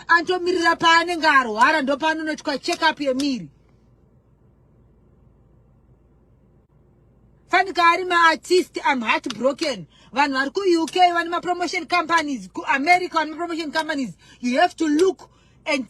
Antomirira paanenge arwara ndopaanonoitwa check up yemiri. Fanika ari maartist I'm heartbroken. Vanhu vari ku UK vane mapromotion companies, ku America vane mapromotion companies. You have to look and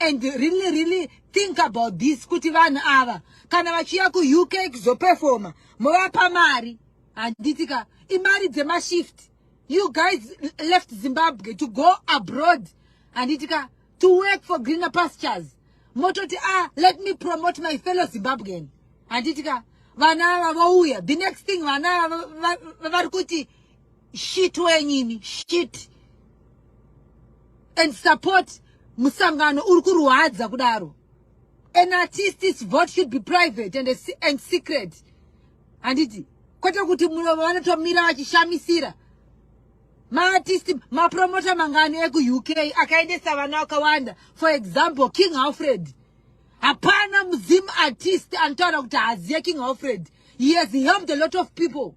and really really think about this kuti vanhu ava kana vachiya ku UK kuzoperforma movapa mari handiti ka imari dzemashift you guys left zimbabwe to go abroad handitika to work for greener pastures mototi ah let me promote my fellow zimbabwean handitika vana ava vouya the next thing vana ava vari kuti shit wenyini shit and support musangano uri kurwadza kudaro an artist's vote should be private and, and secret handiti kwete kuti vanotomira vachishamisira maartisti mapromota mangani ekuuk akaendesa vana vakawanda for example king alfred hapana muzim artist anotaura kuti haaziye king alfred he has helped a lot of people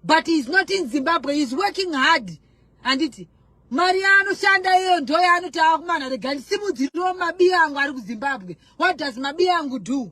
but heis not in zimbabwe heis working hard handiti mari yaanoshanda iyoyo ndo yaanoti ava kumana rega ndisimudziriwo mabiya angu ari kuzimbabwe what does mabiya angu do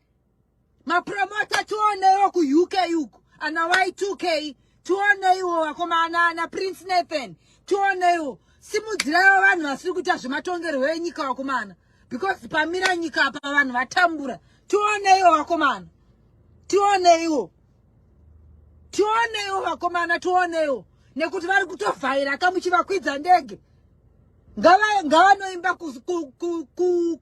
mapromota tionewo kuuk uku ana y2k tioneiwo vakomana ana prince nathan tioneiwo simudziraiwo vanhu vasiri kuita zvematongerwo enyika vakomana because pamira nyika apa vanhu vatambura tioneiwo vakomana tioneiwo tioneiwo vakomana tioneiwo nekuti vari kutovhaira kamuchivakwidza ndege ngavanoimba ku, ku, ku, ku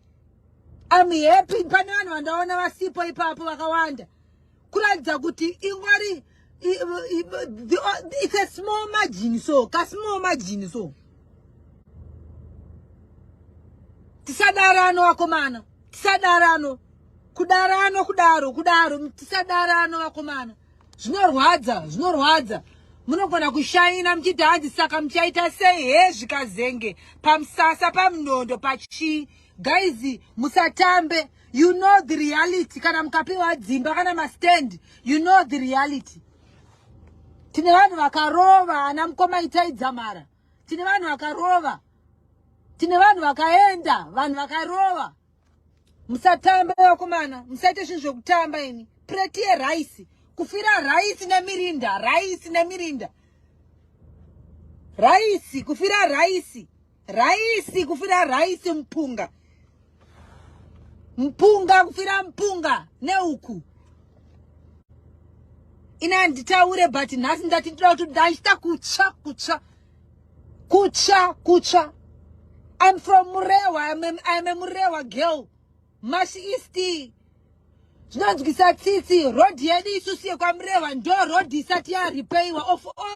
I'm happy pane vanhu vandaona vasipo ipapo vakawanda kuratidza kuti ingori it's a small margin so ka small margin so tisadarano vakomana tisadarano kudarano kudaro kudaro tisadarano vakomana zvinorwadza zvinorwadza munogona kushaina muchiti hanzi saka muchaita sei he zvikazenge pamusasa pamunondo pachii guys musatambe you know the reality kana mukapiwa dzimba kana mastand you know the reality tine vanhu vakarova ana mukoma itai dzamara tine vanhu vakarova tine vanhu vakaenda vanhu vakarova musatambe vakomana musaite zvinhu zvekutamba ini preti yeraisi kufira raisi nemirinda raisi nemirinda raisi kufira raisi raisi kufira raisi mupunga mpunga kufira mpunga neuku ini handitaure but nhasi ndati ndoda kuti ndachita kutsva kutsva Kutsva, kutsva. I'm from Murewa. I'm a, I'm a Murewa girl. Mash East. Zvinonzwisa tsitsi. Road yedu isusu yekwaMurewa ndo road isati yaripeiwa of all